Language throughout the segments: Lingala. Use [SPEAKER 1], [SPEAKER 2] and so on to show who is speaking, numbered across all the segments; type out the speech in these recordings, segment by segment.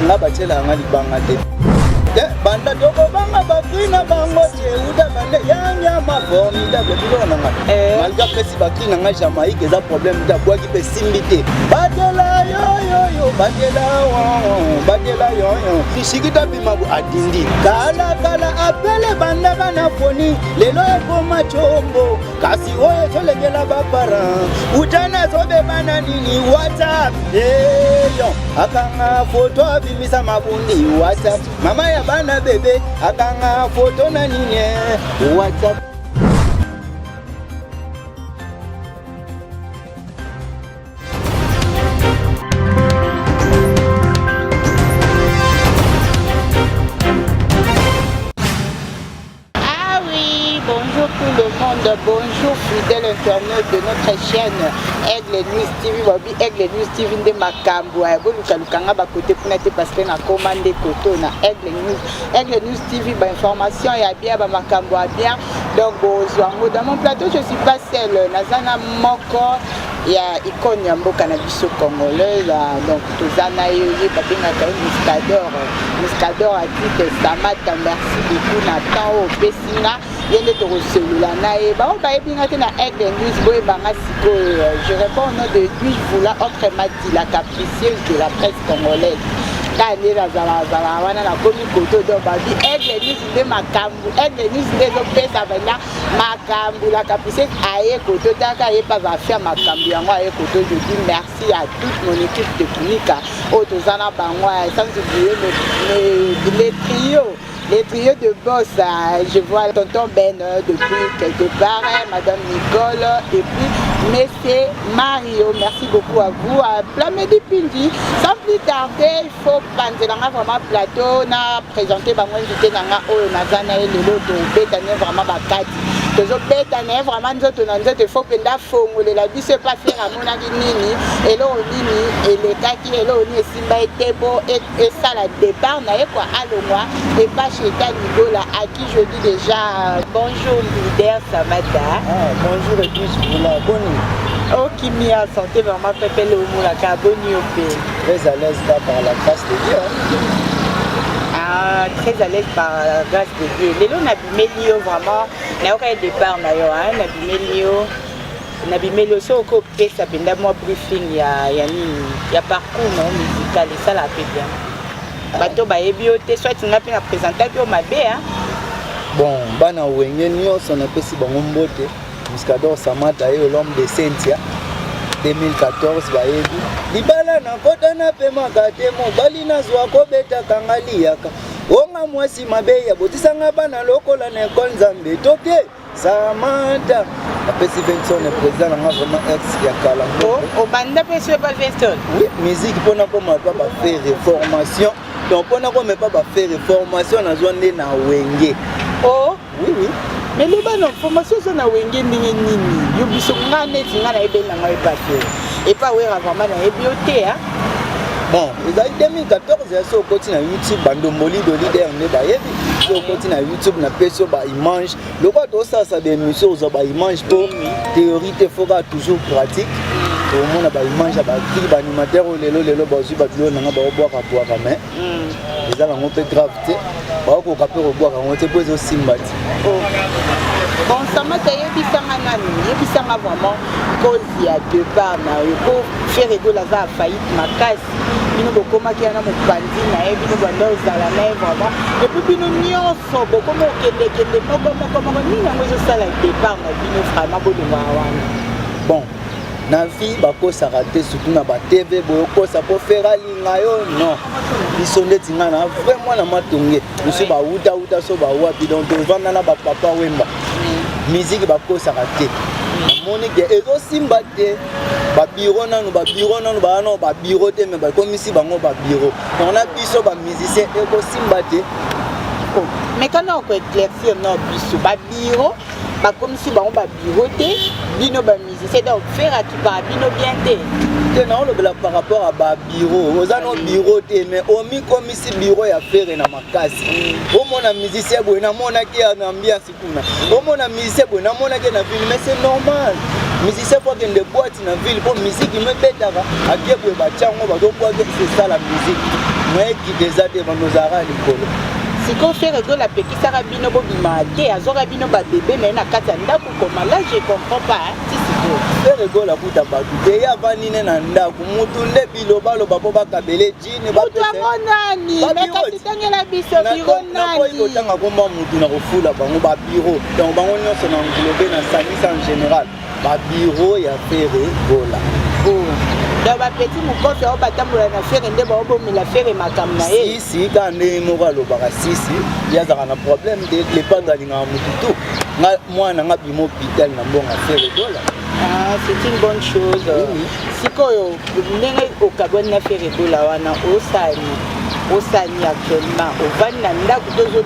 [SPEAKER 1] nga batyela yanga libanga te banda tokobanga bakri na bango jeuda bande yanyama formidable biloko na nga eh. malgre apesi bakri na nga jamaïque eza problème te abwaki mpe simbi te batela yoyoyo batela batela yoyo bisikita mabu adindi kalakala apele bandaka na foni lelo ekoma combo kasi oyo ezolengela baparent uta nazobeba na nini whatsapp eyo akanga foto abimisa mabundi whatsapp mama ya bana bebe akanga foto na nini whatsapp
[SPEAKER 2] bonjour fidèle internaute de notre chaîne aigle news tv babi aigle news tv nde makambo aya bolukaluka nga bakote kuna te parce que nakoma nde koto na aigle news aigle news tv bainformation ya bien bamakambo ya bien donc bozwa yango dans mon plateau je suis pas seule naza na moko ya icone ya mboka na biso congolais donc toza na ye ye babengaka ye muscador muscador ati testamata merci beaucoup na temps oyo opesi nga ye nde tokoselola na ye baoyo bayebi nga te na aigle news boyeba nga sikoyo je réponds au nom de lui voula autre mati la capricieuse de la presse congolaise kaka nde nazalazala wana nakomi koto do babi aigle news nde makambo aigle news nde ezopesa vraimen makambo la capricieuse aye koto taka ye mpa bafia makambo yango aye koto je dis merci à toute mon équipe technique oyo toza na bango sans oublier le trio les trios de boss, euh, je vois tonton Ben euh, depuis quelque part, hein, madame Nicole, et puis Monsieur Mario, merci beaucoup à vous. Plamedi Pindi, sans plus tarder, faut panzela nga vraiment plateau na présenter bango invité na nga oyo naza na ye lelo tobeta ne vraiment bakati tozobeta na ye vraiment nzoto na nzoto faut mpenza afongolela biso epa fere amonaki nini eloko nini elekaki eloko nini esimba ye te mpo esala départ na ye kua alongwa epa cheta ligola à qui je dis déjà bonjour leader samata ah, bonjour et tous
[SPEAKER 1] boni okimi
[SPEAKER 2] ya santé vraiment pepe leomonaka boni yo mpe Très à l'aise pas
[SPEAKER 1] par la grâce de Dieu. Ah,
[SPEAKER 2] très à l'aise par la grâce de Dieu. Lelo nabimeli yo vraiment. Nayoka ye départ na yo, hein, nabimeli yo. Nabimeli yo soki okopesa mpenza mwa briefing ya ya nini ya parcours na yo musical esalaka mpe bien. Bato bayebi yo te soit nga mpe na présentaki yo mabe hein. Bon,
[SPEAKER 1] bana wenge nyonso napesi bango mbote. Muscador Samata et l'homme de Sentia 2014 bayebi libala na kota na pemaka te mobali nazwa kobetaka nga liyaka onga mwasi mabe ya botisanga bana lokola na ekole nzambe toke Samantha apesi Benson président nanga vraiment ex ya kala oh, obanda mpe
[SPEAKER 2] so epa Benson oui musique mpo
[SPEAKER 1] nakoma pa bafere formation donc mpo nakoma epa bafere formation nazwa nde na wenge o oh,
[SPEAKER 2] Oui, oui.
[SPEAKER 1] Mais loba na
[SPEAKER 2] formation oza na wenge ndenge nini yo biso nga neti nga nayebi na ngai bate epa wera vraiment
[SPEAKER 1] nayebi yo te a bon ezali 2014 ya so okoti na youtube bandomboli do leader nde bayebi so okoti na youtube na pesi yo baimage lokola tosalisa baémission ozwa baimage mpo théorie te foka toujours pratique omona baimage ya bakili baanimateur oyo lelo lelo bazwi babiloko nanga baobwaka bwaka mais hmm. eza nango mpe grave te bakokoka mpe kobwaka yango te mpo ezosimba te oh.
[SPEAKER 2] bon samata yebisanga nani yebisanga vraiment cause ya depart na yo mpo fere egola aza ya faillite makasi bino bokomaki yana mopanzi na ye bino banda ozala na ye vraiment epuis bino nyonso bokomi okendekende moko moko moko nini yango ezosala depart na bino vraiment bolingaka wana
[SPEAKER 1] na vie bakosaka te surtout na ba tv boyokosa mpo fere alinga yo non biso ndeti ngai na vrai mwana matonge biso bawutawuta so bawapi donc tovanda na bapapa wemba miziki bakosaka te namoni ke ezosimba te babiro nanu babiro nanu baa nao babiro te me bakomisi bango babiro donc na biso bamusicien ekosimba te oh,
[SPEAKER 2] mekana okoeclaircir na biso babiro bakomisi bango babiro te bino bamusicien donc fere akipaka bino bien te te naolobela
[SPEAKER 1] par rapport ya babiro oza no biro te mais omikomisi biro ya fere na makasi omona musicien boye namonaki ya na ambiance kuna omona musicien boye namonaki na ville mais c'est normal musicien po akende boite na ville po musiki mebetaka ake boye batyango bazokwaki esala musiki moyekite eza te bandozalaka likolo sikoyo fere
[SPEAKER 2] ezolapeka saka bino bobima te azwaka bino babebe na ye na kati ya ndako koma la je comprends pas eregola kuta
[SPEAKER 1] bato te ye avandi ne na ndako motu nde bilobaloba mpo bakabele jini motu yango nani
[SPEAKER 2] nakasi tangela biso biro nani kotanga komba
[SPEAKER 1] motu na kofula bango babiro donc bango nyonso na englobe na sangisa en général ba bureau ya fere gola
[SPEAKER 2] donc bapeti mokofi ao batambola na fere nde baobomela fere makambo na ye sisi ka ndenge moko
[SPEAKER 1] alobaka sisi ye azalaka na problème te lepando alingaka motu tu nga mwana nga bima hôpital na mbongo fere gola ah, c'est une
[SPEAKER 2] bonne chose sikoyo ndenge okabwani na fere gola wana osani osani actuellement ovandi na ndako tozo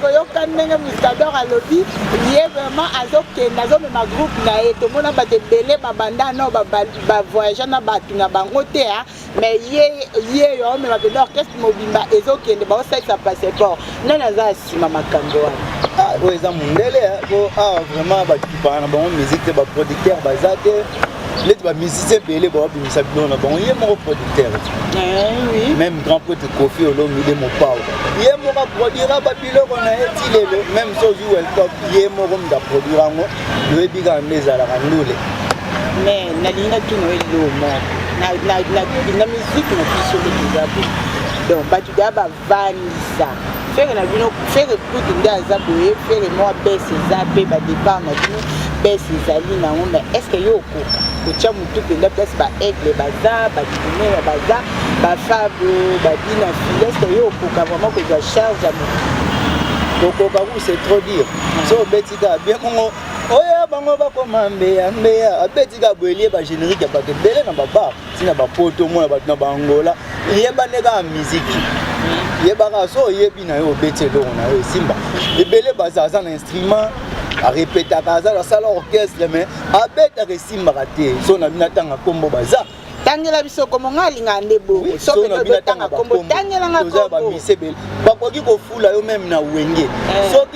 [SPEAKER 2] koyoka ndenge muscador alobi ye vraiment azokende azomema groupe na ye tomona bato ebele babanda no bavoyage na bato na bango te a mais ye ye yo aomema mpenza orchestre mobimba ezokende baosalisa passeport nani aza nsima makambo wana ah, oyo eza mondele
[SPEAKER 1] po awa ah, vraiment bato tupaka na bango musique te baproducteur baza te neti bamusicien ebele babimisa biloko na bango ye moko producteur eh même grand pote kofi olomide mopao ye moko aproduira babiloko na ye ti lelo même so ozwi weltop ye moko moto aproduira yango loyebi kaka nde ezalaka ndule mais
[SPEAKER 2] nalingi natuna eloo moko na musique na biso nde toza donc bato daa bandisa fere na bino fere kutu nde aza boye fere mwa bese eza mpe badepart na bino bese ezali nango mais estce yo okoka kotya motu mpenza place baaigle baza bakineya baza bafabo babina file estce yo okoka vraiment kozwa charge ya motu kokoka ku c'est
[SPEAKER 1] trop dire so obeti kaka bien kongo oyo bango bakoma mbeya mbeya abeti kaka boyelie bagénérique ya bato ebele na babar ntina bapoto omona bato na baangola eyebane kaka miziki yebaka so oyebi na yo obeti eloko na yo esimba ebele baza aza na instrument arepetaka aza asala orchestre mais abetaka esimbaka te so na bino atanga nkombo baza tangela biso kombo
[SPEAKER 2] ngai alingaka nde bongo soki totanga kombo tangela ngai kombo
[SPEAKER 1] bakoki kofula yo meme na wenge eh. soki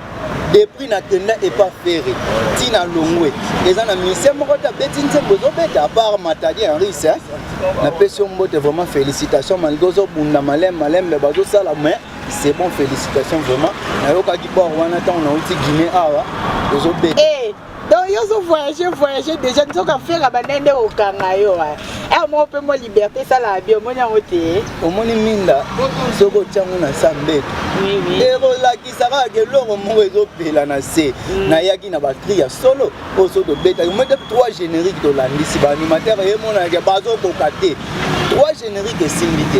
[SPEAKER 1] depuis nakenda epa ferre ti na longwe eza na musicien moko te abeti nzembo ezobeta apart matadi henris napesi yo mbote vraiment félicitation malgré ozobunda maleme malembe bazosala mais c'est bon félicitation vraiment nayokaki bor wana ntango nauti guine awa ozobeta donc yo
[SPEAKER 2] ozo voyage voyage déjà nzoka fera banda nde kokanga yo ere moko mpe mwa liberté esalaka bi omoni yango te omoni minda
[SPEAKER 1] soki otyango na sa mbeto ekolakisa kaka ke eloko moko ezopela na se mm. nayaki na bacri ya solo oyo so tobetaki moi te trois générique tolandisi baanimateur emonanake bazokoka te trois générique esimbi te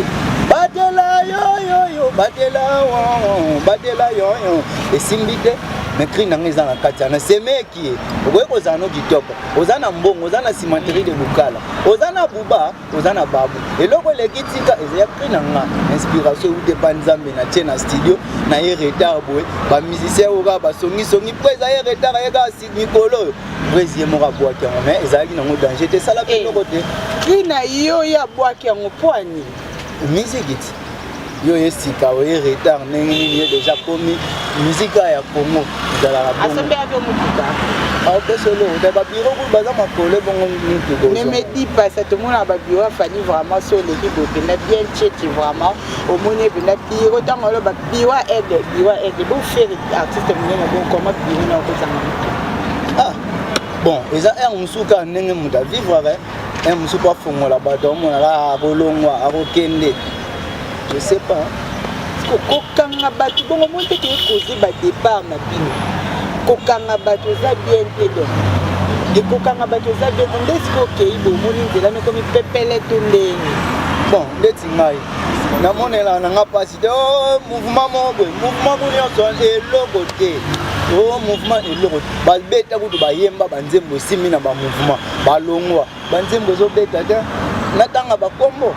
[SPEAKER 1] batela yoyoyo batela batela yoyo esimbi te mais cri na ngai eza na kati wana semeki ye okoki kozala no kitoko oza na mbongo oza na cimenterie de lukala oza na buba oza na babu eloko eleki tika ezaya cri na nga inspiration eute pa nzambe na tie na studio na ye retard boye bamusicien oyo kaka basongisongi mpo eza ye retard aye kaka mikolo oyo presi ye moko abwaki yango mais ezalaki nango danger te esalaki eh, eloko te cri na yo
[SPEAKER 2] ye abwaki yango mpo anini mizikiti
[SPEAKER 1] yo ye sika oye retard ndenge nini ye deja komi mizika ya congo ezalaka
[SPEAKER 2] apesolo
[SPEAKER 1] na babiro kutu baza makole bongo mituko ne me di pasa
[SPEAKER 2] tomona babiro afani vraiment so oleki bote na bien cheti vraiment omoni ebenda biro ntango oloba biro aide biro aide boferi artiste monene bokoma biro na okozanga moto ah, bon
[SPEAKER 1] eza heure mosusu kaka ndenge moto avivraka eh, mosusu mpo afongola bato amonaka akolongwa akokende je sais pas kokanga
[SPEAKER 2] bato bongo moi mpe toye koze badepart na bino kokanga bato eza bien te donc ekokanga bato eza bien te nde sikoyo okei bomoni nzela mekomi pepele to ndenge bon ndeti
[SPEAKER 1] ngai namonela na nga mpasi te o oh, mouvement moko boye mouvement bo nyonso eloko te o oh, mouvement eloko te babeta kutu bayemba banzembo esimbi na bamouvement balongwa banzembo ezobeta te natanga bakombo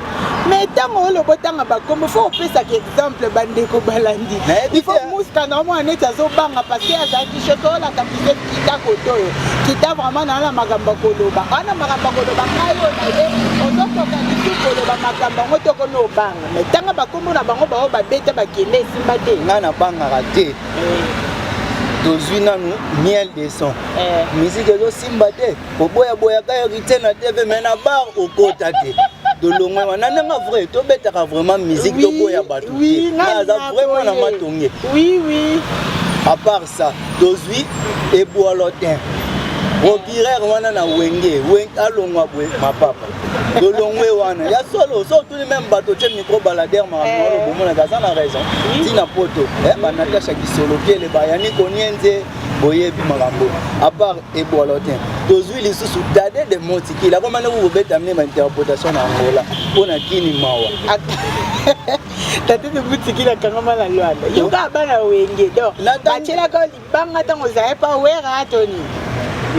[SPEAKER 1] mais ntango
[SPEAKER 2] oloba otanga bakombo fo opesaka exemple bandeko balandi ifo muska na omwana neti azobanga parceke azalaki shoto olaka pise kita kotoyo kita vraiment naa na makambo ya koloba aa na makambo ya koloba ngai oyo na ye ozokoka lisu koloba makambo yango tokomi obanga mai ntanga bakombo na bango baoyo babeta bakende esimba te ngai nabangaka te
[SPEAKER 1] eh. tozwi nanu miel de son eh. miziki ezosimba te oboyaboyaka heritier na tv mai na bar okota te tolongwe wana ndenge vrai tobetaka vraiment musique toboya bato te aza vraiment na matonge
[SPEAKER 2] à part
[SPEAKER 1] ça tozwi eboalotin robirer wana na wenge alongwa bwe mapapa tolongwe wana ya solo so otuni meme bato tye micro balader makambo eh. bomonaka aza na raison ntina poto eh, banatasha kisolokele bayani konienze boyebi makambo apart ebola te tozwi lisusu dade de montikili akoma nde kokobeta mne bainterpretation na angola mpo na kini mawa
[SPEAKER 2] tate de montikili akangama na lwanda yoka bana wenge donc batyelaka libanga ntango ozaye mpa wera toni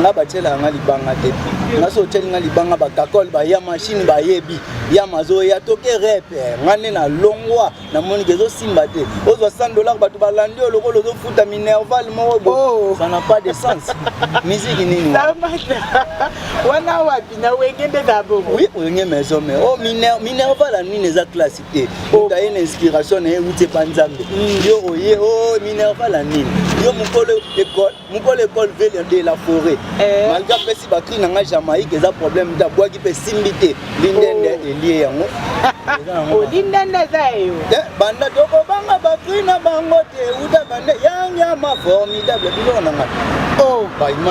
[SPEAKER 2] nga batyela
[SPEAKER 1] yanga libanga te nga so otyeli nga libanga bakakole baya mashine bayebi yama azoya toke repe nga nde na longwa namoni ke ezosimba te ozwa 100 dollar bato balandi yo lokola ozofuta minerval moko bo oh. ça n'a pas de sens miziki nini
[SPEAKER 2] wana wapi na wenge nde na bongo oui wenge maison mais
[SPEAKER 1] o oh, minerval ya nini eza classe te oh. otaye na inspiration na ye euti epa nzambe hmm. yo oye o minerval ya nini yo mokolo ekole mokolo ekole vele de la foret eh. malgre apesi bakri na ngai jamaïque eza problème te abwaki mpe esimbi te lindende oh. elie yango oh,
[SPEAKER 2] lindende eza eyo eh, banda tokobanga
[SPEAKER 1] bakri na bango te uta bande yangiama formidable biloko na ngai oh.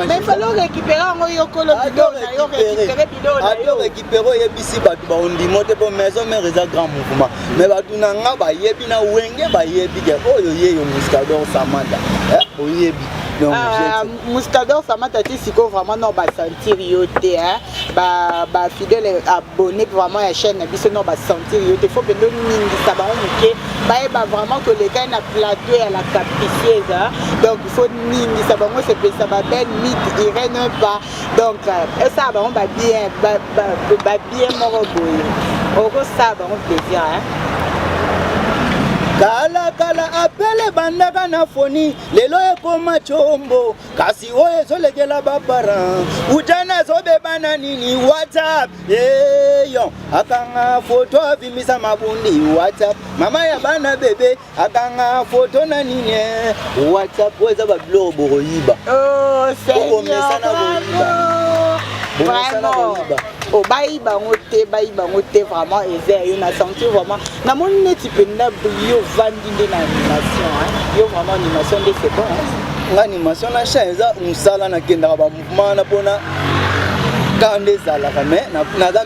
[SPEAKER 1] mais
[SPEAKER 2] falo récupérer yango yokolo biloko na yo récupérer biloko na yo Pero yebisi
[SPEAKER 1] batu ba ondimo te po maison mère eza grand mouvement. Mais batu na nga ba yebi na wenge ba yebi ke oyo ye yo muscador Samantha. Eh oyebi. Donc ah,
[SPEAKER 2] muscador Samantha ti siko vraiment non ba sentir yo te hein. Ba ba fidèle abonné vraiment ya chaîne na biso non ba sentir yo te. Faut pendo mingi ça ba muke. Ba yeba vraiment que le gars na plateau ya la capricieuse. Hein? Donc il faut mingi ça ba ngo se pesa ba belle mythe Irène pas donc euh, esala bango babien babien moko boye okosala bango plaisir kalakala apele ebandaka na foni lelo ekoma combo kasi oyo ezolekela baparent utana azobeba na nini whatsapp eyo akanga foto abimisa mabundi whatsapp mama ya bana bebe akanga foto na nini eh? whatsapp oyo eza babiloko bokoyiba oh, okomesana koyiba bomesana koyiba o oh, bayi bango te bayi bango te vraiment eza ya yo na sentir vraiment namoni neti mpenza yo ovandi nde na animation yo vraiment animation nde c'est bon nga animation na chan eza mosala nakendaka bamouvement na mpona kaka nde ezalaka mais naza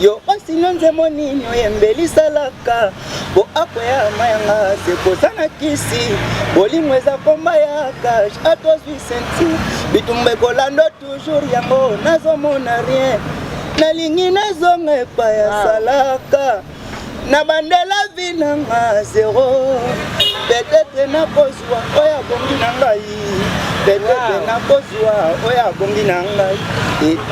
[SPEAKER 2] yo osino nzembo nini oyembeli salaka po akwea mayanga se koza na kisi bolingo eza komba ya kage atozwi senti bitumba ekolando toujours yango nazomona rien nalingi nazonga epai ya ah. salaka na bandela vi nanga zero petetre nakoz oyo abongi na ngai bebebe nakozwa oyo abongi na ngai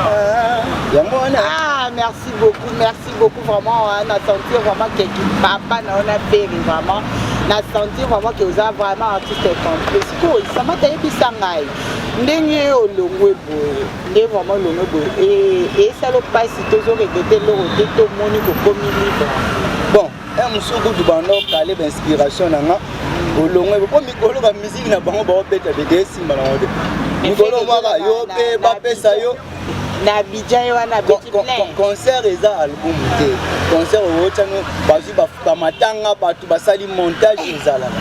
[SPEAKER 2] ah, yango wana ah, merci beaucoup merci beaucoup vraiment hein, na sentir vraiment que papa na yo na pere vraiment na sentir vraiment que oza vraiment artiste complet sikoyo sama tayebisa ngai ndenge olongwe boye nde vraiment olongwe boye esala mpasi tozoregrete eloko te tomoni kokomi libre Eh, mosusu kutu banda okale bainspiration na nga olongwe po mikolo bamiziki na bango baobeta bete esimba na ngo te mikolo mwaka yo mpe bapesa yo na bidja ye wana beti plein concert eza
[SPEAKER 1] album te concert oyotano bazwi bamatanga bato basali montage ezalaka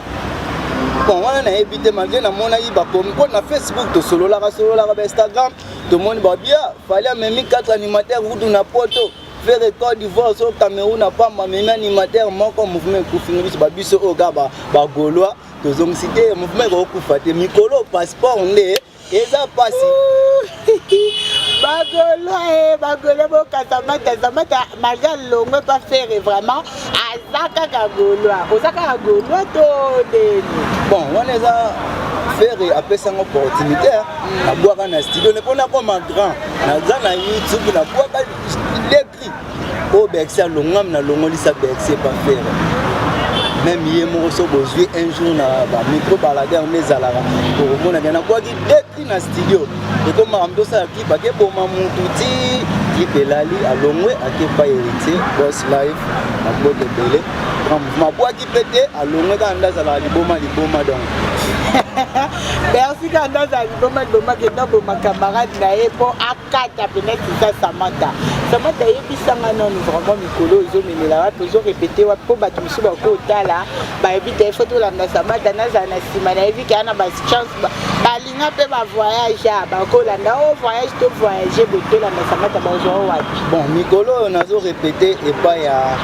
[SPEAKER 2] bon
[SPEAKER 1] wana nayebi te malgre namonaki bakomi mpo na facebook tosololaka sololaka ba instagram tomoni babia ah, fali amemi 4 animateur kutu na poto fere cote d'ivoire so cameroun na pamba amemi animateur moko mouvement ekufingi biso babiso oyo kaka bagaulois tozongisi te mouvement ekokufa te mikolo passeport nde eza pasi bagolo e
[SPEAKER 2] bagolo bokasa mata zamata malgre alongwe pa fere vraiment aza kaka golois oza kaka golois to ndeni bon wana eza
[SPEAKER 1] fere apesanga opportunité nabwaka na studio ne mpo nakoma grand naza na youtube nabwaka oyo bercy alongwami nalongolisa bercy epa fere meme ye moko so bozwi un jour na bamicro balader nde ezalaka okomonaka nabwaki depri na studio ekomaka moto osala clip akeboma mutu ti clip elali alongwe akepa heritier bos life mabota ebele mabwaki mpe te alongwe kaka nde azalaka liboma liboma donc bersi
[SPEAKER 2] kaka nde azala liboma liboma kenda boma camarade na ye mpo kata mpenza tiza samata samata yebisanga nanu vraiment mikolo ozomemela wapi ozorepete wapi mpo bato mosusu bakoki otala bayebi te ifo tolanda samata nazala na nsima nayebi kaya na bachance balinga mpe bavoyage a bakolanda o oh, voyage to voyage boye tolanda samata bazwa o wapi bon mikolo oyo
[SPEAKER 1] nazorepete epai ya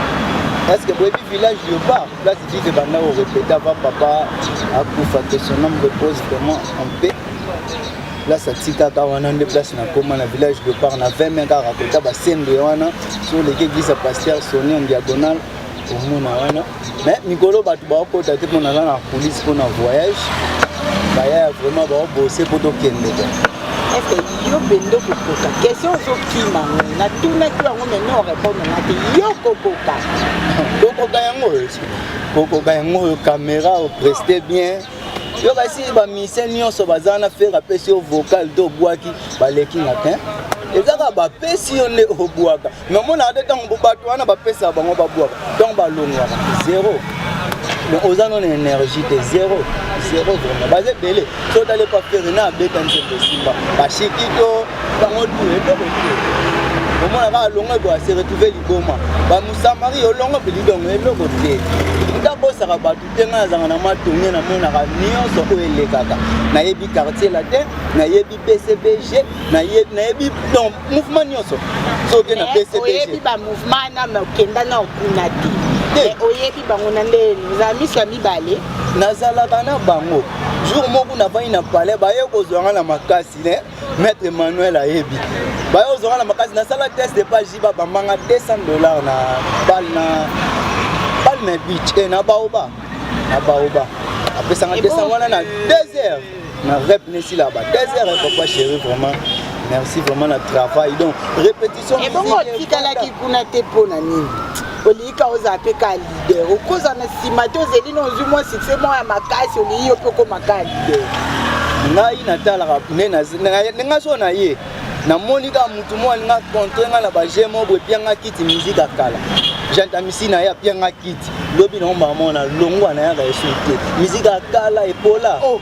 [SPEAKER 1] eske boyebi village yoba place vive banda korepete ava papa akufa que son homme repose vraiment en paix place atikaka wana nde place nakoma na village de part na 20 mai kaka kota basende wana so oleki eglise ya paster soni en diagonal omona wana me mikolo bato bakota te mpo naza na police mpo na voyage bayaya vraiment baobose mpo tokendeka eske
[SPEAKER 2] yo bende okokoka question ozokima ngo natunaki yango meme orepondre nga te yo kokoka kokoka yango oyo
[SPEAKER 1] kokoka yango oyo kamera opreste bien yo kasi bamusicien nyonso baza na fere apesi yo vocal to obwaki baleki na te eza kaka bapesi yo nde obwaka me omonaka te ntango bato wana bapesaka bango babwaka ntango balongwaka zero donc oza no na énergie te zero zero vraiment baza ebele so otali epa fere na abeta nzembo esimba bashiki to bango tu eloko te omona kaka longo ekoya se retrouve liboma bamusamari olongo mpe lidongo eloko te ndabosaka bato mpe ngai nazanga na mwa tourne namonaka nyonso oyo elekaka nayebi quartier latin nayebi bcbg nayebi donc mouvement nyonso soki na bcbgoyebi bamouvement
[SPEAKER 2] na okenda na okuna te oyebi bango na nde ozala miso ya mibale nazalaka na
[SPEAKER 1] bango jour moko navandi na palais baye kozwa ngai na makasi ne Maître Emmanuel ayebi. Bayo ozonga na makasi na sala test de page ba bambanga 200 dollars na bal na bal na beach et eh, na baoba. Na baoba. Apesanga 200 wana na 2 heures. Na rep nesi là bas 2 heures eh, papa chéri vraiment. Merci vraiment na travail. Donc répétition. Et bon, tikalaki
[SPEAKER 2] kuna te pona nini? Olika oza pe kali. leader okoza na nsima te ozeli na ozwi mwa succès mwa ya makasi olingi yo mpe okoma kaka leader ngai
[SPEAKER 1] natalaka nde ngai so na ye namoni kaka motu moko alinga contre ngai na baje moko boye pia ngai kiti mizika kala jantamisi na ye apia ngai kiti lobi na omamona longwa na yaka esu te mizika kala epola oh.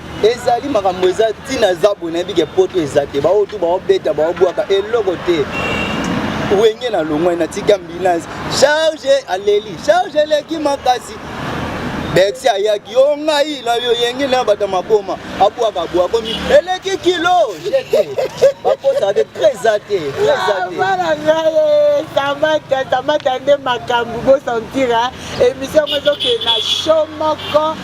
[SPEAKER 2] ezali makambo
[SPEAKER 1] eza ntina eza boye nayebi ke poto eza te baoyo tu baobeta baobwaka eloko te wenge na longwai natika ambulance charge aleli charge eleki makasi bexi ayaki yo ngai na yo yenge na bata maboma abwaka bwa komi eleki kilo jete bakosaka te treza te trezabana
[SPEAKER 2] ngaye samata samata nde makambo bosantira emission yango ezokende na sho moko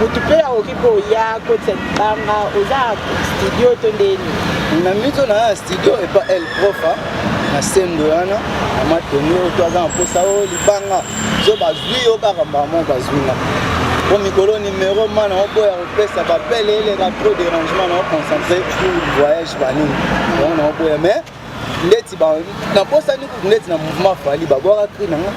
[SPEAKER 2] mutu mpe akoki koya kotisa libanga oza studio to ndeni na mito
[SPEAKER 1] na ya studio epa el profa na sembo wana na matoni oyo to aza na mposa oyo libanga zo bazwi yo kaka mbala moko bazwi nga po mikolo nimero ma na oboya kopesa bapele eleka trop dérangement na oconcentre voyage banini yango na oboya mais ndeti ba na posa ni kutu ndeti na mouvement fali ba bora cri na nga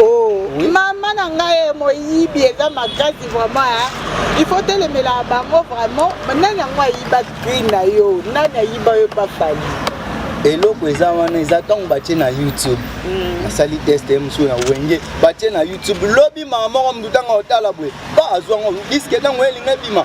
[SPEAKER 1] oh oui.
[SPEAKER 2] mama na nga ye moyibi eza makasi vraiment hein il faut telemela bango vraiment nani yango ayiba cri na yo nani ayiba yo pa fali eloko
[SPEAKER 1] eza wana eza ntango batie na youtube mm. asali test ye mosusu na wenge batie na youtube lobi mama moko motu ntango otala boye ba azwango diske ntango elinga ebima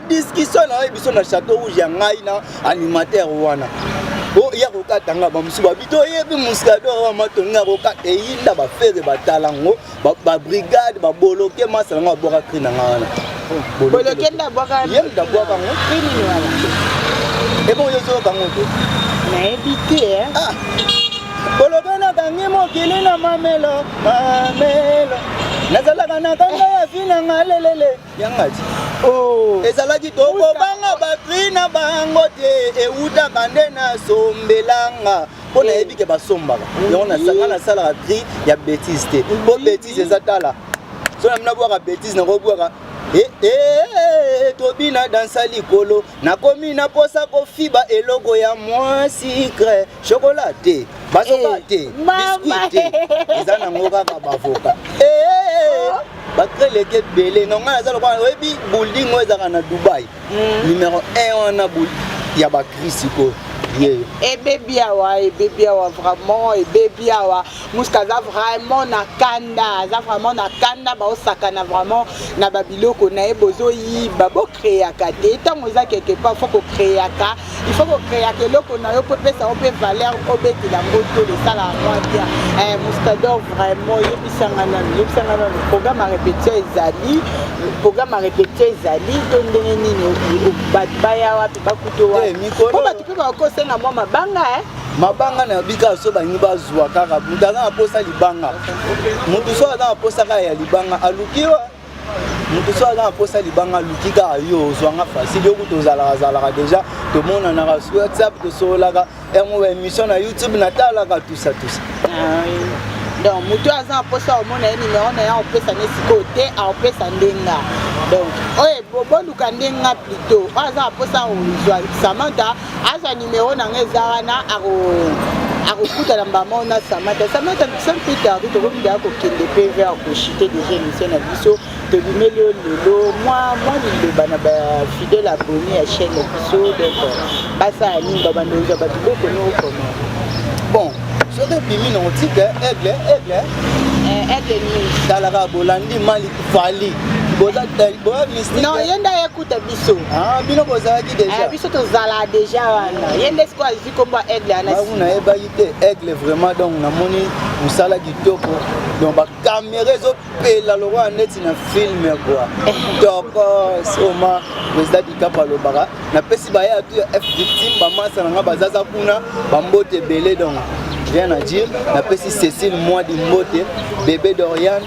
[SPEAKER 1] discussion na yo biso na chateau rouge ya ngai na animateur wana oya oh, kokata nga bamosusu babi toyebi muscador wa matongi ya kokata eyinda bafere batala yango babrigade baboloke masa na nga babwaka kri na nga wana
[SPEAKER 2] boloke ndabwaka yango ebongo
[SPEAKER 1] yozoyoka yango te nayebi
[SPEAKER 2] te eh. ah.
[SPEAKER 1] boloke nakangi mokili na mamelo mamelo nazalaka na kanga ya vi na nga lelele yangati oh.
[SPEAKER 2] ezalaki
[SPEAKER 1] tokobanga bakri na bango te ewutaka nde nasombelanga mpo nayebi ke basombaka yango nasanga nasalaka kri ya betise te mpo betise eza tala so na mina bwaka betise nakobwaka Eh, eh, eh, tobina dansa likolo nakomi na posa kofiba eloko ya mwa sikre chokola te bazoba eh, te biskuit te eza nango kaka bavoka eh, eh, oh. bakreleke ebele na ngai aza lokola oyebi building oyo ezalaka na dubai hmm. numero 1 wana ya bakrisi koyo
[SPEAKER 2] ebebi awa ebebi awa vraiment ebebi awa muska aza vraiment na kanda aza vraiment na kanda baosakana vraiment na babiloko na ye bozoyiba bokreaka te ntango eza quelque part fo kokreaka il faut kokreaka eloko na yo mpo epesa yo mpe valeur obetela yango tolo esalaka mwa bien eh, mustador vraiment yebisanga nanu yebisanga nanu programme ya répétition ezali programme ya répétition ezali to ndenge nini bato baya wapi bakuto wapi eh, mpo bato mpe bakosenga mwa mabanga eh? mabanga
[SPEAKER 1] na bika so balingi bazwa kaka moto aza na mposa libanga moto so aza na mposa kaka ya libanga aluki wa moto so aza na mposa ya libanga aluki kaka yo ozwanga facile yo kutu ozalakazalaka déjà tomonanaka su whatsapp tosololaka yango ba émission na youtube natalaka tusa tusa ah
[SPEAKER 2] donc moto oyo aza na mposa omona ye nimero na ye aopesa ne sikoyo te aopesa ndenga donc oyo boluka ndenga plutôt oyo aza na mposa ozwa samanta azwa nimero na nga eza wana akokuta na mbama ona samata samata sans plus tarde tokoki deya kokende mpe vers kochite déjà émission na biso tobimeli yo lelo mwa mwa liloba na bafidèle abonné ya chaîne na biso donc basala nini babanda ozwa bato bokoni okoma bon
[SPEAKER 1] soki ebimi na otike aigle aigle aigle nini
[SPEAKER 2] talaka bolandi mali
[SPEAKER 1] fali boza boya
[SPEAKER 2] mystique kuta biso ah, bino bozalaki
[SPEAKER 1] deja eh, biso tozala deja
[SPEAKER 2] wana ye nde sikoyo azwi kombo ya aigle anabango nayebaki te
[SPEAKER 1] aigle vraiment donc namoni mosala kitoko donc bakamera ezopela lokola neti na filme kua eh. tokos oma président dikap alobaka napesi baye atu ya f victime bamasa na ngai bazaza kuna bambote ebele donc rien à dire napesi cécile mwadi mbote bebe doriane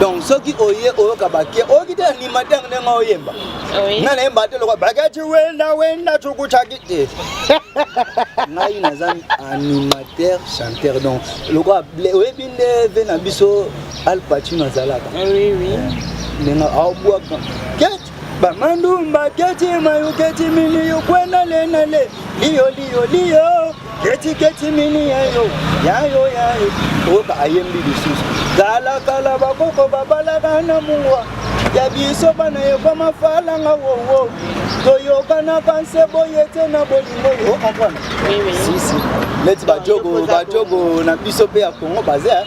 [SPEAKER 2] donc soki
[SPEAKER 1] oye oyoka bake oyoki te animateur ndenge oyemba nga nayemba te lokwa baketi wenda wenda cukucaki te eh. ngai naza animateur chanteur donc lokwa oyebi nde ve na biso alpacino azalaka ah eh,
[SPEAKER 2] ndenge
[SPEAKER 1] aobwaka Bamandumba keti mayo keti mini yo kwena le na le liyo liyo liyo keti keti mini yayo yayo yayo oyoka ayembi lisusu kala kala bakoko babalaka na mungwa ya biso bana ekoma falanga wowo toyokanaka nse boye te na bolingo yo okomprendre sisi
[SPEAKER 2] neti
[SPEAKER 1] bajogo bajogo na biso mpe ya kongo baza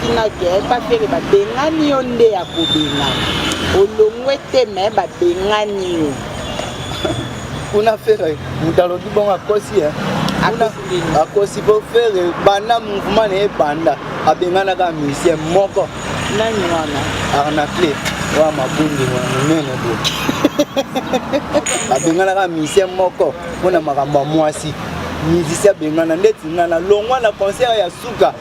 [SPEAKER 2] tina ke bafele babengani yo nde ya kobengana olongwe te me babengani yo
[SPEAKER 1] kuna fere moto alobi bongo akosi eh. akosi po fere banda mouvement na ye banda abenganaka musicien moko nani wana
[SPEAKER 2] arnacle
[SPEAKER 1] oya mabundi monene bo abenganaka musicien moko mpo na makambo ya mwasi musicien abengana ndeti nga na longwa na concert ya suka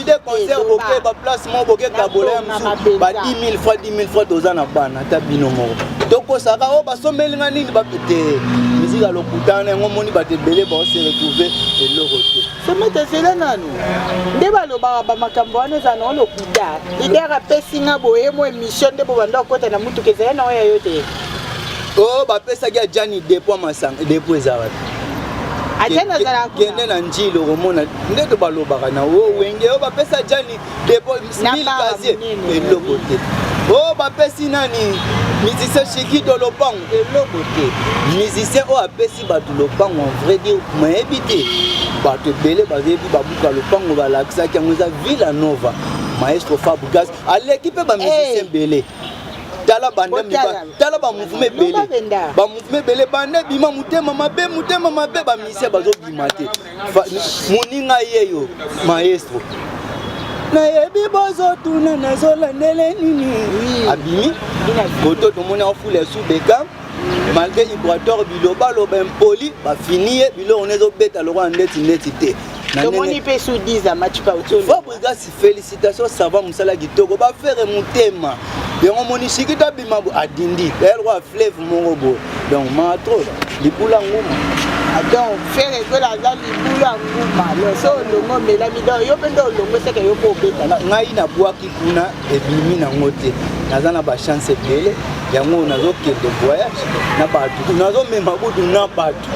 [SPEAKER 2] ide concert
[SPEAKER 1] boke ba place moko boke kabola ya mosusu ba 10 000 fois 10 000 fois toza na bana ata bino moko tokosaka oyo oh, basombeli nga nini bapete miziki ya lokuta na yango omoni bato ebele baose retrouve eloko te somete ezela nanu
[SPEAKER 2] nde balobaka bamakambo wana eza nao lokuta lider apesi nga boyemo emission nde bobanda kokota na motuka ezali na oyo ya yo te Oh,
[SPEAKER 1] bapesaki ajani depo masanga depo eza wapi
[SPEAKER 2] kende na njili
[SPEAKER 1] okomona ndenge balobaka na o oh, wenge oyo oh, bapesa jani depo mil gazier eloko te o oh, bapesi nani musicien chikido lopango eloko te musicien oyo apesi bato lopango en vrai dire mayebi te bato ebele bayebi babuka lopango balakisaki yango eza villa nova maestro fabugas aleki mpe bamusicien ebele tala banda miba tala ba mouvement ebele ba mouvement ebele banda ebima motema mabe motema mabe ba musicien bazobima te moninga yeyo maestro nayebi bozotuna nazolandele nini abimi koto tomoni afula ya subeka malgré ibrator bilobaloba impoli bafini ye biloko na ezobeta lokola ndeti ndeti te tomoni mpe
[SPEAKER 2] sudisa match pauto Félicitations
[SPEAKER 1] savant musala kitoko ba faire mutema yango moni siki to abima bo adindi d'ailleurs wa fleuve moko bo donc ma trop libula nguma ah, donc
[SPEAKER 2] fere ekwela aza libula nguma loso olongo omelami donc yo mpe nde olongo eseke yo mpe obeta ngai nabwaki
[SPEAKER 1] kuna ebimi nango te naza na bachance ebele yango nazokende voyage na bato nazomema kutu na bato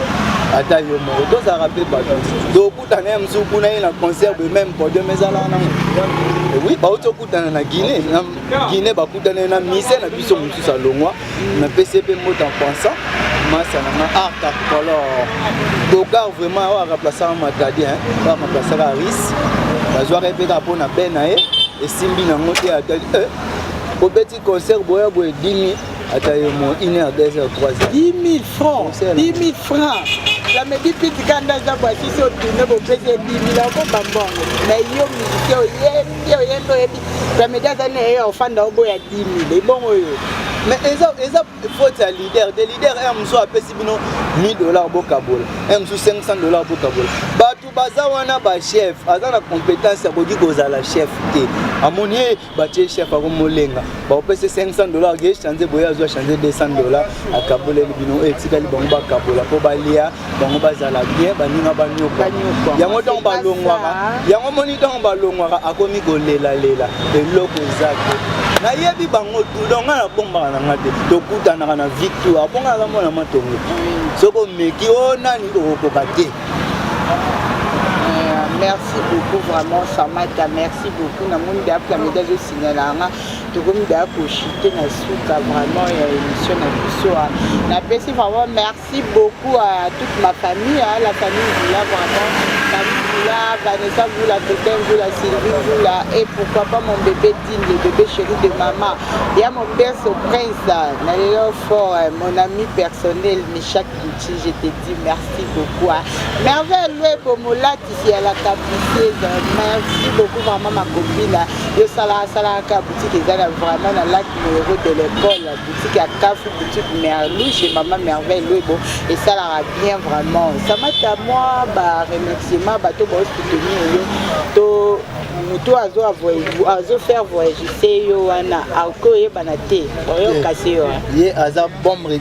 [SPEAKER 1] ata yo moko tozalaka mpe bato kutana ya mosusu kuna ye na concert de même podium ezalaka nango eh oui bauti okutana na guinée na guinée bakutana ye na mise na biso mosusu alongwa na pcp mbote en pensant masa na nga art ah, acolor dogar vraiment oyo akaplasaka matadi oyo akaplasaka aris bazwaka ye mpe kaka mpo na be na ye esimbi nango te atali eh, obeti concert boya boye dimi ata yo mo une heure deux heures trois heures 10 000 francs
[SPEAKER 2] 10 000 francs la medi piti kanda aza bwasi so tune bopesi ye 10 000 akoba mbongo na yo musicien oyembi oyembi oyebi la medi aza na ye ofanda oboya 10 000 ebongo oyo mais eza
[SPEAKER 1] eza faute ya leader de leader un mosusu apesi bino 1000 dollars bokabola un mosusu 500 dollars bokabola bato baza wana bachef aza na compétence akoki kozala chef te amoni ye batie chef ako molenga bakopesa 500 dollar akeye chanze boye azwa chanze 200 dollar akaboleli bino oyo etikali bango bakabola mpo balia bango bazala bien baninga banyoka yango ntango balongwaka yango moni ntango balongwaka akomi kolelalela eloko eza te nayebi bango tudo ngai nabombaka na ngai te tokutanaka na victoire mpo ngai aza mwana matongo soki omeki o oh, nani okokoka te
[SPEAKER 2] merci beaucoup vraiment samata merci beaucoup namoni daya plameda ezosignala yanga tokomi daya koshite na suka vraiment ya émission na biso napesi vraiment merci beaucoup à toute ma famille à la famille villa vraiment famille villa vanessa vula totin vula sylvie vula et pourquoi pas mon bébé dine le bébé chéri de maman ya mon perso prince na lelo fort mon ami personnel michak Gucci, je te dis merci beaucoup. Hein. Merveille Luebo molatisi ya la capricieuse. Merci beaucoup vraiment ma copine. Yo sala sala ka boutique ezala vraiment na lac numéro de l'école. Boutique à Kafu, boutique Merlou chez maman Merveille Luebo et ça la bien vraiment. Ça m'a à moi ba remerciement ba to ba soutenir yo. To moto azo azo faire voyager yo wana akoyebana te. Oyo kasi yo. Ye aza
[SPEAKER 1] bombe.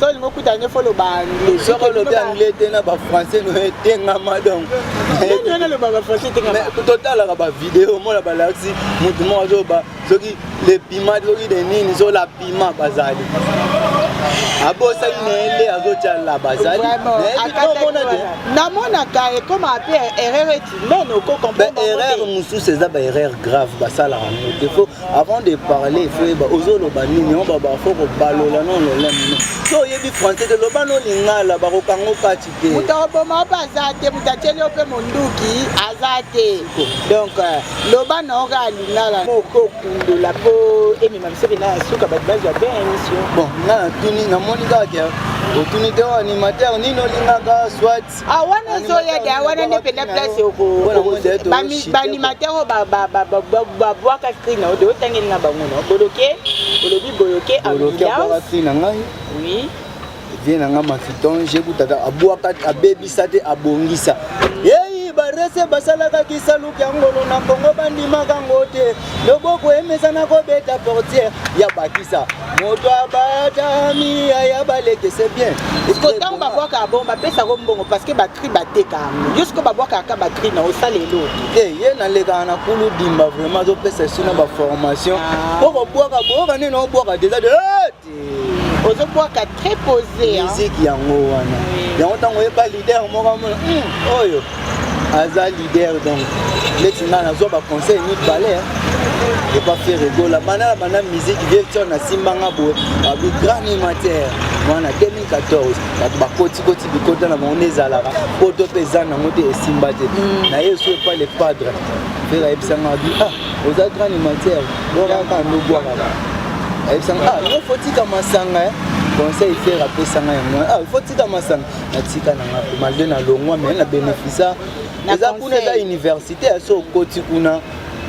[SPEAKER 2] so olingi okuta nde fo loba anglais soki olobi anglais
[SPEAKER 1] te na bafrançais no etengama donc
[SPEAKER 2] totalaka bavideo
[SPEAKER 1] omona balakisi motu moko azoba soki le pima soki de nini so la pima bazali abosani na ye nde azotyala bazali
[SPEAKER 2] namonaka ekoma mpe erreur eti nono okokomprerreur mosusu eza
[SPEAKER 1] baerreur grave basalaka moto Avant de parler, il faut yeba ozo loba nini on ba ba faut ko balola non non non. So yebi français de loba no lingala ba ko kango kati te. Muta oboma ba za
[SPEAKER 2] te muta tele ope monduki aza te. Donc euh, loba no ga lingala. Mo ko kundo la po emi ma biso na suka ba bazo ba émission. Bon, na tuni
[SPEAKER 1] na moni ka ke otuni te animateur nini olingaka soit Ah, wana ezoya
[SPEAKER 2] da wana nde mpenza place baanimateur oyo babwaka cri na odo otangeli na bango no boloke olobi boloke ambulance na
[SPEAKER 1] ngai
[SPEAKER 2] oui vie na ngai
[SPEAKER 1] mafiton jekutata abwaka abebisa te abongisa yeyi barese basalaka kisaluki ya ngolo na kongo bandimaka ngo te loboko emesana kobeta portiere ya bakisa moto abatami ya baleke se bien ntango babwaka
[SPEAKER 2] abon bapesa yango mbongo parce que bacri bateka yango yo siko babwakaka bacri na osala eloko te eh, ye nalekaka
[SPEAKER 1] na kulu dimba vraiment azopesa esuna baformation ah. po kobwaka boyoka nini obwaka deja de eh,
[SPEAKER 2] ozobwaka très posé musique yango
[SPEAKER 1] wana yango ntango oyeba leader moko amona hmm, oyo aza leader donc leti ngai nazwa baconseil mibale epa fere gola banda na banda musique vieux tion nasimbanga boye babi grand animateur wana 2014 bato bakotikoti bikota na bango nde ezalaka poto mpe eza nango te esimba te hmm. naye esu epa le padre fere ayebisanga abi ah oza grand animateur bwakaka yango bwakaka ayebisanga ah yo fotika masanga eh. conseil fer apesanga yango eh. ah fotika masanga natika na nga malgre na longwa mai na bénéficia eza kuna eza université ya so okoti kuna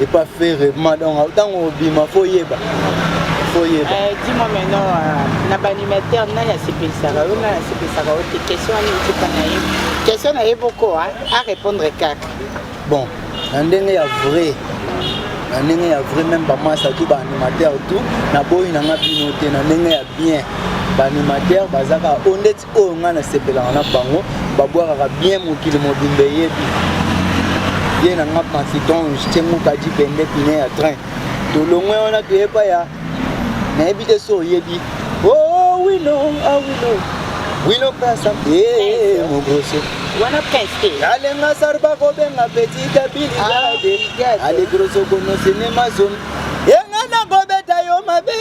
[SPEAKER 1] epa fere madonga ntango obima fo yeba koyeba eh,
[SPEAKER 2] dimo meno euh, na baanimateur nani asepelisaka yo nani asepelisaka yo te question wana etika na ye question na ye boko a répondre kaka bon
[SPEAKER 1] na ndenge ya vrai na ndenge ya vrai meme bamasa tu baanimateur tout naboyi na nga bino te na ndenge ya bien baanimateur bazaka o oh, ndeti oyo oh, ngai nasepelaka na bango babwakaka bien mokili mobimba eyebi ye na nga pansitonge tyengukaji pende pine ya train tolongwe wana toyepa ya nayebi te so oyebi oh wino ah wino wino pasa eh mogoso wana prince te
[SPEAKER 2] alenga sarba
[SPEAKER 1] ko benga petite bilade ah, ale grosso kono cinema zone yenga na ko beta yo mabe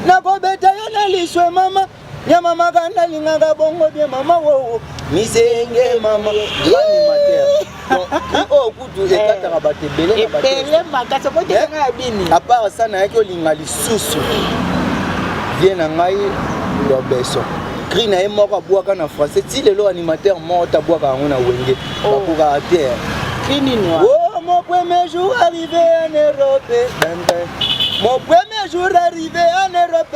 [SPEAKER 1] na ko beta yo na liswe mama Ya mama kanda lingaka bongo bien mama wowo misenge mama animateur oyo kutu ekataka bato ebele na bato ebele makasi okotekanga
[SPEAKER 2] ya bini apart sa nayaki
[SPEAKER 1] olinga lisusu vie na ngai lobeso cri na ye moko abwaka na français ti lelo animateur moko tabwaka yango na wenge oh. bakokaka te cri nini
[SPEAKER 2] oh, mon premier
[SPEAKER 1] jour arrivé en europe mon premier jour arrivé en europe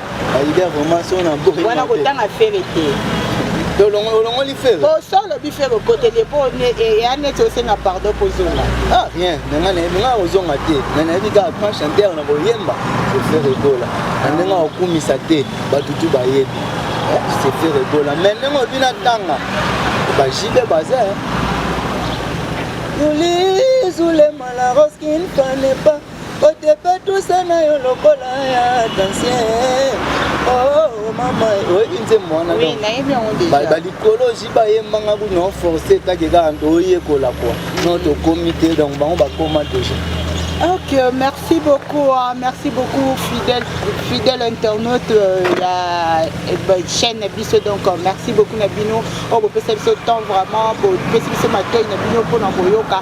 [SPEAKER 1] Aida vraiment son na boye. Wana kotanga fere
[SPEAKER 2] te.
[SPEAKER 1] olongoli fere oso olobi fere
[SPEAKER 2] okoteli epo eya neti osenga pardon kozonga ah rien nanga
[SPEAKER 1] nanga kozonga te na nayebi kaka grand chanteur na koyemba sefere ekola na ndenge akokumisa te bato tu bayebi sefere eh, ekola mai ndenge obi natanga bajibe baza eh. yuli zulema la roskine panepa Otepe tusa na yo lokola ya dansien. Oh mama, oyebi nzembo wana Oui, donc nayebi yango ba-
[SPEAKER 2] déjà. balikoloji
[SPEAKER 1] bayembanga kuna oforce etaki kaka nto oyekola kua no tokomi te donc bango bakoma deja Ok,
[SPEAKER 2] merci beaucoup, hein, merci beaucoup fidèle, fidèle internaute euh, ya eh ben, chaîne na biso donc euh, merci beaucoup na bino oyo bopesa biso temps vraiment bopesi biso matoi na bino mpona koyoka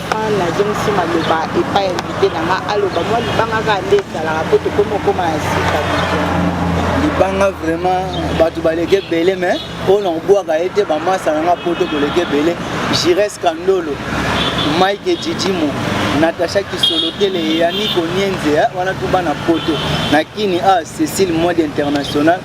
[SPEAKER 2] nazongisi maloba epai ya invité na nga aloba mwa libanga kaka nde ezalaka mpo tokomi okoma na sika
[SPEAKER 1] libanga vraiment bato baleki ebele me oyo nakobwaka ye te bamasa na nga poto koleki ebele gires kandolo mike jijimo natacha kisolotele yani konienze eh, wana tuba na poto na kini a ah, cecile mode international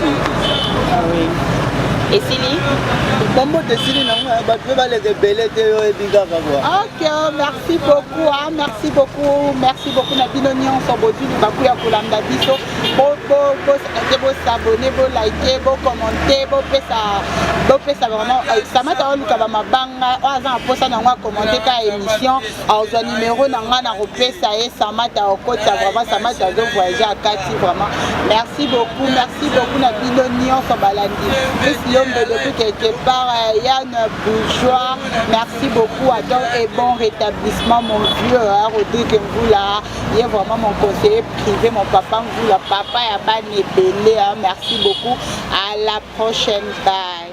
[SPEAKER 2] Ah oui. esili bambote
[SPEAKER 1] esili nango eh, bato mpe baleka ebele te yo oyebi kaka bwa ok
[SPEAKER 2] merci beaucoup ah, merci beaucoup merci beaucoup na bino nyonso bozwi libaku ya kolanda biso boke bosabone bolike bokommente bopesa bopesa vraiment eh, samata oluka bamabanga oyo aza na mposa na yango akommente ka émission azwa numero na ngai nakopesa ye samata okota vraiment samata azo voyage akati vraiment merci beaucoup merci beaucoup na bino nyonso balandi plus lombe depuis quelque part euh, yann bourgeois merci beaucoup attend et bon rétablissement mon vieux hein, rodrigue mvula ye vraiment mon conseiller privé mon papa mvula papa ya bana ebele hein, merci beaucoup à la prochaine bye